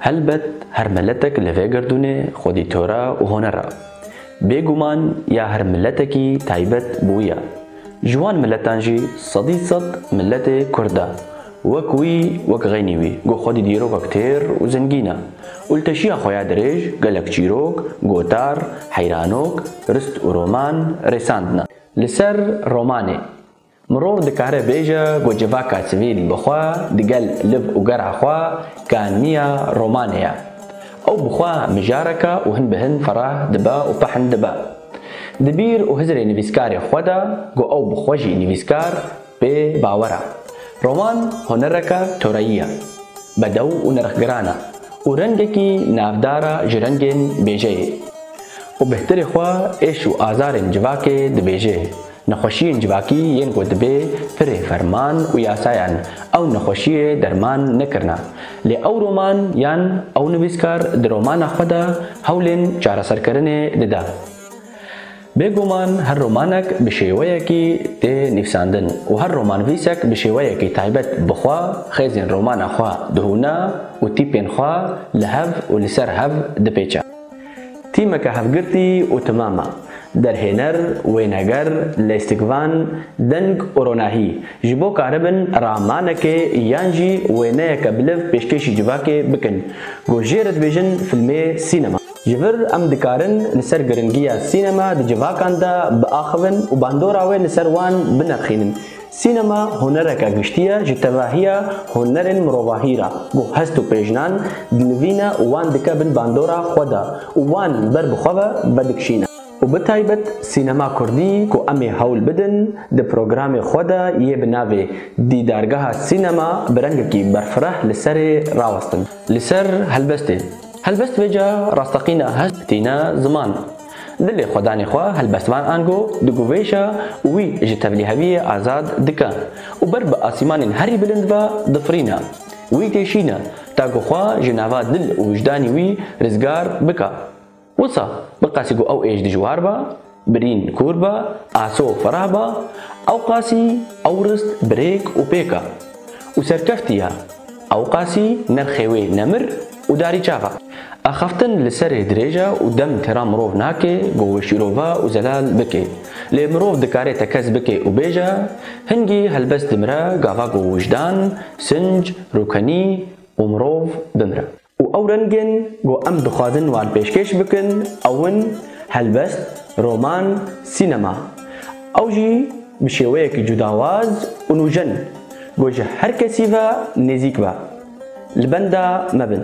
Helbet her meletek li vê gerdûnê xwedî tora û honer a. Bêguman ya her miletekî taybet bi wî ya. Ji wan miletan jî sedî sed miletê Kurd a. Wek wî, wek xeynî wî ku xwedî dîrokek têr û zengîn a. Û li teşiya xwe ya dirêj gelek çîrok, gotar, heyranok, rist û roman rêsandine. Li ser romanê Mirov dikare bêje ku civaka sivîl bi xwe digel liv û gera xwe ka niya romanê ye. Ew bi xwe mijareke û hin bi hin ferah dibe û pehn dibe. Di bîr û hizirê nivîskarê xwe de ku ew bi xwe jî nivîskar bê bawer e. Roman hunereke toreyî ye, bedew û nirxgiran e û rengekî navdar e ji rengên bêjeyê. Û bihtirê xwe êş û azarên civakê dibêje. Nexweşiyên civakî yên ku dibê pirê ferman û yasayan ew nexweşiyê derman nekirina. Lê ew roman yan ew nivîskar di romana xwe de hewlên çareserkirinê dida. Bêguman her romanek bi şêweyekî tê nivîsandin û her romanvîsek bi şêweyekî taybet bi xwe xêzên romana xwe dihûna û tîpên xwe li hev û li ser hev dipêça. Tîmeke hevgirtî û timam e. Derhêner, wêneger, lêstikvan, deng û ronahî ji bo karibin ramanekê yan jî wêneyeke biliv pêşkêşî civakê bikin ku jê re dibêjin filmê sînema. Ji vir em dikarin li ser giringiya sînema di civakan de biaxivin û bandora wê li ser wan binerxînin. Sînema hunereke giştî ye ji tevahiya hunerên mirovahî re ku hest û pêjnan dinivîne û wan dike bin bandora xwe de û wan ber bi xwe ve vedikişîne. Û bi taybet sînema kurdî ku em ê hewl bidin di programê xwe de yê bi navê Dîdargeha Sînema bi rengekî berfireh li serê rawestin. Li ser helbestê. Helbest vêca rasteqîna hest tîne ziman. Di lêxwedanê xwe helbestvan ango diguvêje û wî ji tevlîheviyê azad dike û ber bi asîmanên herî bilind ve difirîne. Wî kêşîne ta ku xwe ji nava dil û wijdanî wî rizgar bike. Wisa biqasî ku ew êj dijwar be, birîn kûr be, aso fereh be, ewqasî ew rist birêk û pêk e û serkeftî ye, ewqasî nerxê wê nemir, Û darî çaxa. Axaftin li serê dirêj e û dem têra mirov nake ku wê şîrove û zelal bike. Lê mirov dikare tekez bike û bêje, Hingî helbest dimire gava ku wijdan, sinc, rûkenî û mirov bimire. Û ew rengên ku em dixwazin wan pêşkêş bikin ew in, helbest, roman, sînema. Ew jî bi şêweyekî cudawaz û nûjen ku ji her kesî ve nêzîk be. Li benda me bin.